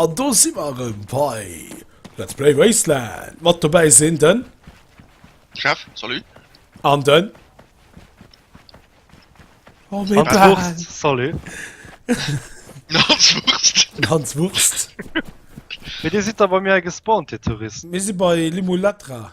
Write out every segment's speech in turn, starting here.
An do si mer erëm bei Let's Play Wasteland. Mat dobäi sinn den. Chef, salut. An den. Oh, mé Wurst, salut. Hans Wurst. Hans Wurst. Mee Dir sidd da bei mir gespawnt, Dir Touristen. Mir si bei Limulatra.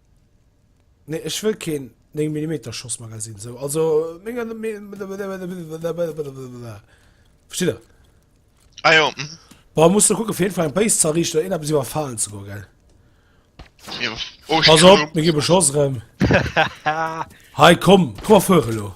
Nee ech wëll keen 9 Millimeter Schossmagasinn esou also menge versteet der? Ah jo, mhm. Boah, muss du gucken, auf jeden Fall ein Base zu errichten oder irgendetwas überfallen zu gehen, gell? Jo. Oh, ich Pass kann op, mir gi beschoss rem. Hei komm, komm fuere lo.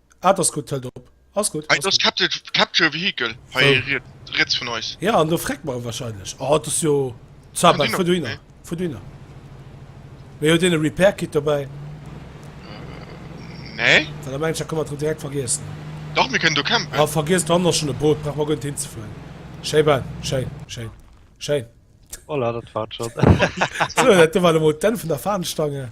Ah, ass gutt, hëlt op. Ass gutt. Hei, ass gutt. Capture Vehicle hei riets vun eis. Jo, an do freckt mer e wahrscheinlech. Oh, dat ass jo Zabak. Fuer du hinner, fuer du hinner. Mee huet een e Repair Kit dobäi? Nee. Well da mengen ech, da kënne mer et direkt vergiessen. Dach, mir kënnen do campen. Ah, vergiess, do hannen ech schonn e Boot, brauche mer guer net hinzefueren. Schéi bal, schéin, schéin, schéin. Voilà, dat war et schonn. Sou, dat war elo mol d'Enn vun der Fahnenstange.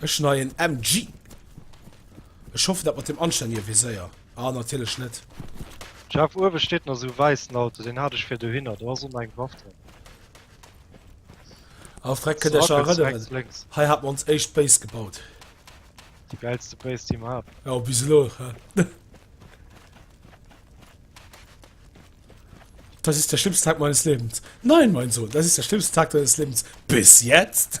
Ech neien MG. Ech hoffen dat mat dem anständige Viséier. Ah natierlech net. Jeff, uewe steet nach esou wäissen Auto, deen hat ech vir dohinner, do ass ëmmer eng Waff dran. Ah freck, kënnt iech nach erënneren, hei hat mer ons éischt Base gebaut. Déi gäilste Base déi mer haten. Jo bis elo he. Das ist der schlimmste Tag meines Lebens. Nein mein Sohn, das ist der schlimmste Tag deines Lebens bis jetzt.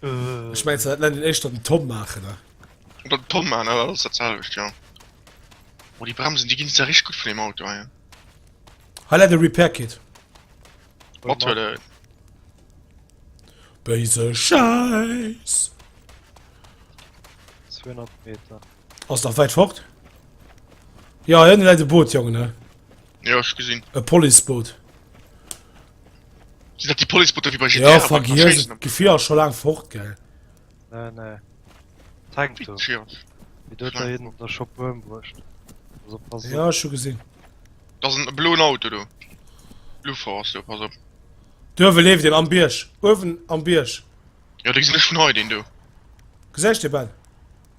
Ech mein dat net echt den Tom machen ne den Tom man alles derzelcht ja Wo die Bremsen die ginn ja rich gut vun dem Auto ja. Hall de Repair Kit Wat huet en? Béise Scheiß 200 Meter Ass nach weit fort? Ja hin läit de Boot jongen ne Jo, ech gesinn. E Policeboot. Sinn dat déi Policebooter wéi bei GTA? Ja, vergiess et. D'Gefier ass scho laang fort, gell? Nee, nee. Tank do. Wéi huet der een der scho Buerm bruecht? Ja, ech hu gesinn. Dat ass e bloen Auto do. Luffer ass do, pass op. Do uewe leeft een, am Bierg. Uewen am Bierg. Jo, dee gesinn ech vun hei, deen do. Gesäis de, Ben?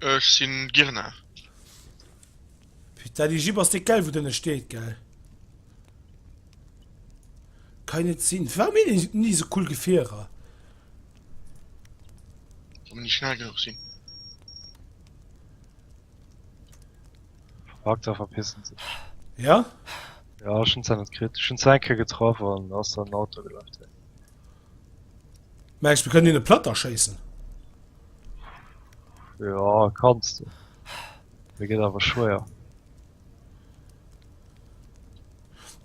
Ech sin Girna. Putain déi Jipp ass déck gell wou dënne steet gell. Kann net sin warum hun ech ni sou cool Gefierer. Wa mer ni schnell genuch sin. Verpackt a verpissen sech. Ja? Ja ech hun se net kritt, ech hun se eng Kéier getraff an ass an den Auto gelaf direkt. Mengs mir können hinne platt erschéissen? Ja kannst du. Mir gëtt awer schwéier.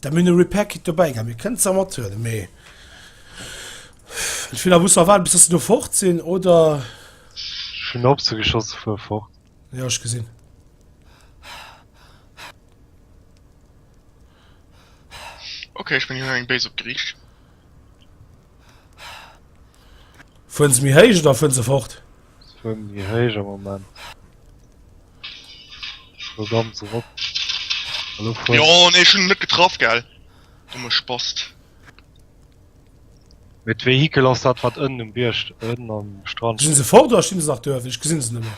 Da mir Repair Kit dobäi gehabt. Mir kënnt ze mat huele méi. Ich will muss erwarten bis du fort sinn oder schon op ze geschoss vu fort. Ja ich gesinn. Okay, ich bin hier eng Base op Griech. Fuhren sie mir heisch oder fuhren sie fort? Sie fuhren mir heisch am Moment. So ganz rot. Jo, ne, schon net getraff, gell? Du me spast. Mit Vehikel ass dat wat ënnen um Bierg ënnen am Strand. Sind sie fort oder stehen sie nach dörf? Ich gesinn sie nimmer.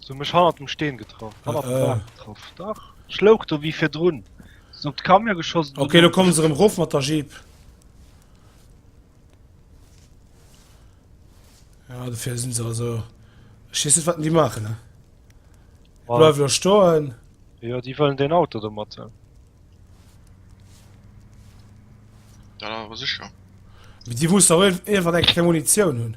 So mech hannert dem Steen getraff. Äh, hannert dem äh. Bach getraff. Dach. Schloug do wie fir drun. Sind op d'Kamio geschossen. Okay, lo kommen se rem rof mat der Jeep. Ja, dofir sinn se also. Schiss net wat déi maachen, ne? Bleif lo stoen. Ja, déi wëllen den Auto do mat. Ja, awer sicher. Déi wussten ewell iwwer eng Munition hunn.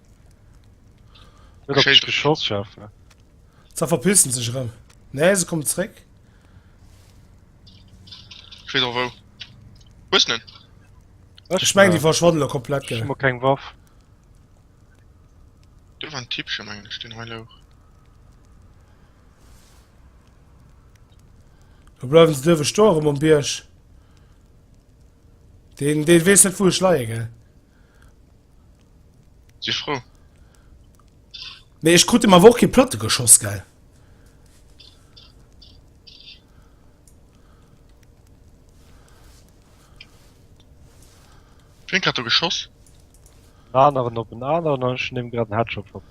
Ze verpissen sech rem nee se kommen zréck. Ech meng déi verschwannen elo komplett gell. Ech hu keng Waff. Do war en Tippchen mengen ech deen hei louch. Do bleiwen se duerwe stoe rem um Bierg. Deen deen weess net wou ech leie gell. Si frou. Nee, ech krut dem awer och kee Platte geschoss, gell? Wien hat do geschoss? En aneren op en aneren an ech hunn him grad en Headshot verpasst.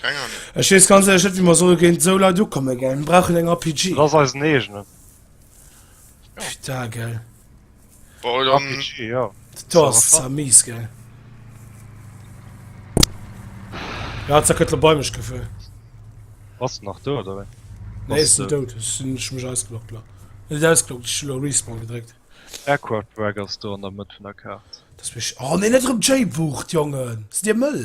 Keng Ahnung. Ech wees ganz ehrlech net wéi mer solle géint sou Leit ukomme gell. Mir brauchen eng RPG. Dat ass eisen eegenen. Puta gell. Bon dann. RPG jo. Do ass et zwar mies gell. Ja zack huet lo bei mech gefuer. Bass de nach do oder wéi? Nee ech sinn dout, ech sinn ech hu mech ausgeloggt lo. Net ausgeloggt, ech hu lo Respawn gedréckt. Aircraft Wreck ass do an der Mëtt vun der Kaart. Dass mech, oh nee net erëm d'J-Bucht Jongen, sidd dir mëll.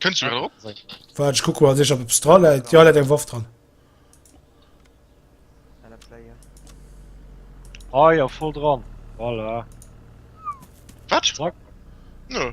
Kënns du grad erop? Waart, ech kucken, ob eppes dra läit. Jo, läit eng Waff dran. Ah ja, voll dran. Voilà. Wat? Zack. Nö.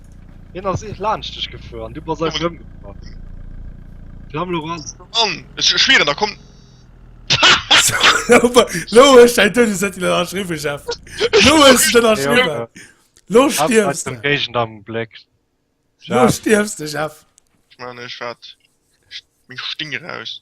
Hien ass eech laanscht dech gefuer an du bass eis erëmgefuer. Flam Laurent. Mann, ech schwieren, da komm. Lo huet ech däin Doudeszettel ënnerschriwwen, Jeff. Lo huet ech et ënnerschriwwen. Lo stierfs de. Géigend am Bléck. Lo stierfs de, Jeff. Ech man, ech war. Ech. Meng Sting eraus.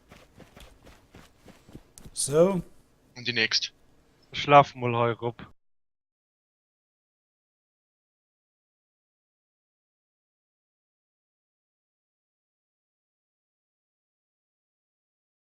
So. An déi nächst. Ech lafe mol hei erop.